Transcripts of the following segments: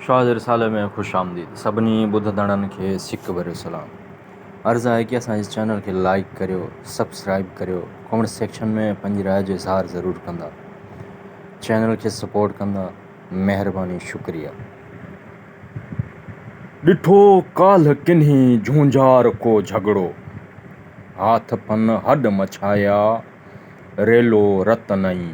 شاهه جي رسالي ۾ خوش آمديد سڀني ٻڌندڙن کي سڪ ڀريو سلام عرض آهي ڪي اسان جي چينل کي لائيڪ ڪريو سبسڪرائيب ڪريو ڪمينٽ سيڪشن ۾ پنهنجي راء جو اظهار ضرور ڪندا چينل کي سپورٽ ڪندا مهرباني شڪريا. ڏٺو ڪالهه ڪنهي جهونجهار ڪو جهڳڙو، هاٿ پن هڏ مڇايا، ريلو رت نئين.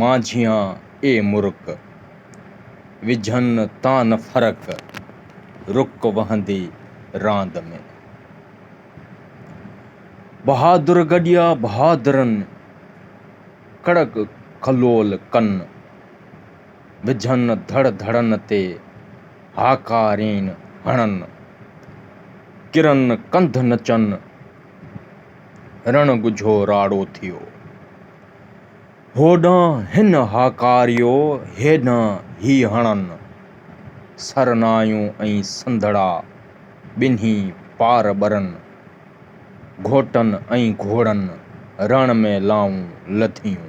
مانجهيان اي مرڪ، وجهن تان نه فرق، رڪ وهندي راند ۾. بهادر گڏيا بهادرن، ڪڙڪ ڪلول ڪن، وجهن ڌڙ ڌڙن تي، هاڪارين هڻن. ڪرن ڪنڌ نچن، رڻ ڳجهو راڙو ٿيو. هوڏانهن هن هاڪاريو، هيڏانهن هي هڻن. سرنايون ۽ سنڌڙا ٻنهي پار ٻرن. گهوٽن ۽ گهوڙن رڻ ۾ لانئون لڌيون.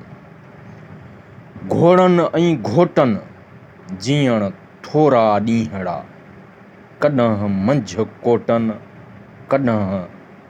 گهوڙن ۽ گهوٽن جيئڻ ٿورا ڏينهڙا. ڪڏهن منجهه ڪوٽن، ڪڏهن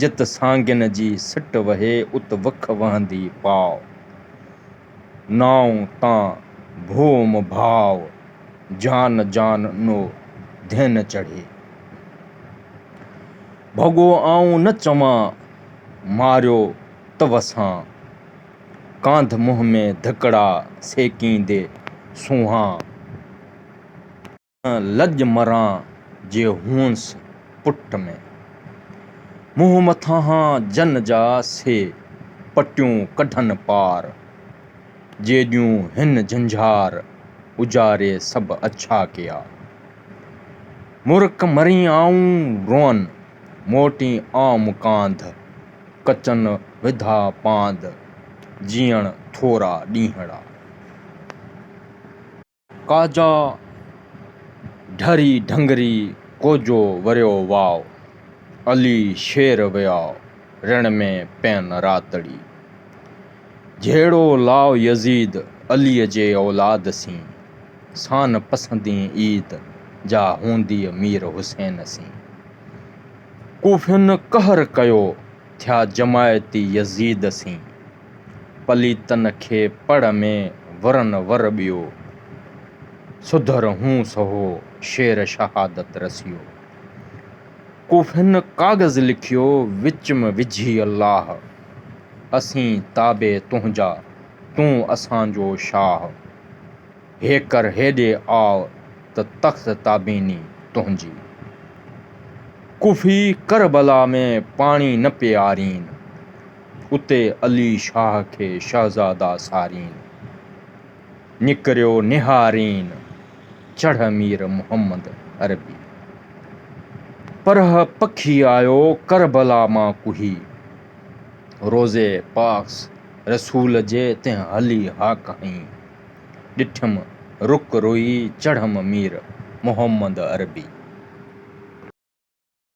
جت سانگين جي سٽ وهي ات وک وهندي پاء. نانء تان ڀوم ڀاء، جان جان نو ڌين چڙهي. ڀڳو آئون نه چوان، ماريو ته وسان. ڪانڌ منهن ۾ ڌڪڙا سيڪيندي سونهان. لڄ مران جي هونس پٽ ۾. منهن مٿانهان جن جا سي پٽيون ڪڍن پار. جيڏيون هن جهنجهار اجاري سڀ اڇا ڪيا. مرڪ مرين آئون روئن موٽين آئم ڪانڌ. ڪچن وڌا پانڌ جيئڻ ٿورا ڏينهڙا. ڪاجا ڍري ڍنگري ڪوجو وريو واء، علي شير ويا رڻ ۾ پين راتڙي. جهيڙو لاء يزيد عليء جي اولاد سين، سان پسندين عيد جا هونديء مير حسين سين. ڪوفين قهر ڪيو ٿيا جماعتي يزيد سين. پليتن کي پڙ ۾ ورن ور ٻيو، سڌر هون سهو شير شهادت رسيو. ڪوفين ڪاغذ لکيو وچ م وجهي الله، اسين تابع تنهنجا تون اسان جو شاهه. هيڪر هيڏي آء ته تخت تابيني تنهنجي، ڪوفي ڪربلا ۾ پاڻي نه پيارين. اتي علي شاهه کي شهزاده سارين نڪريو نهارين چڙهه مير محمد عربي پرهه پکي آيو ڪربلا مان ڪهي روضي پاڪ رسول جي تنهن هلي ها ڪهين ڏٺم رک روئي چڙهم مير محمد عربي.